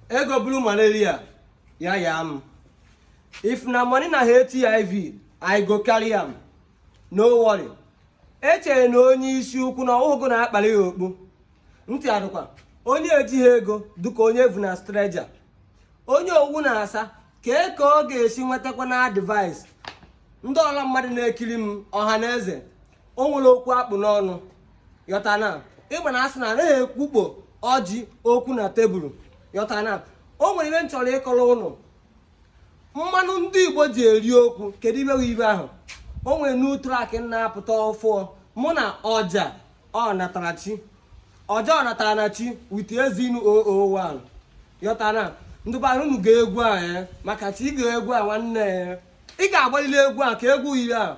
ego bụrụ malaria ya ya m if na money na hiv i go carry am no worry echere na onye isi ukwu na ọ wụ gụ na-akpali ya okpu ntị adụkwa onye ejighị ego dịka onye e vu na stretcher onye owu na-asa kee ka ọ ga-esi nwetakwa na advice ndị ọla mmadụ na-ekiri m ọha na eze o nwere okwu akpụ n'ọnụ yọtana igbo na-asị na anaghị ekwukpo ọjị okwu na tebụl yọtana o nwere ihe m chọrọ ịkọrọ unu mmanụ ndị igbo ji eri okwu kedu ibe ibe ahụ o nwere new track na-apụta ọfụụ mụ na ọja ọ natara chi ọja ọ natara na chi with ezeinu 001 yọtana ndị bara unu gee egwu a eh, maka chi ị gee egwu a nwanne ya eh. ị ga-agbalili egwu a ka egwu yiri a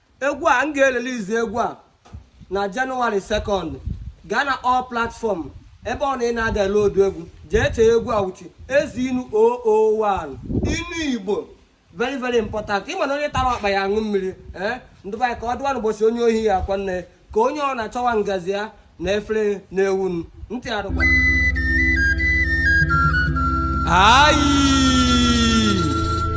egwu a m ga-erelease egwu a na january second gaa na all platform ebe ọ na ị na-adownload egwu jee chee egwu a wuchi ezeinu 001 inu igbo very very important ị ma na onye tara ọkpa ya aṅụọ mmiri ee ndị be ya ka ọ dụwa n'ụbọchị onye ohi ya akwa nne ka onye ọ na-achọwa ngazi ya na efere na-ewu ntị adụkwa ayi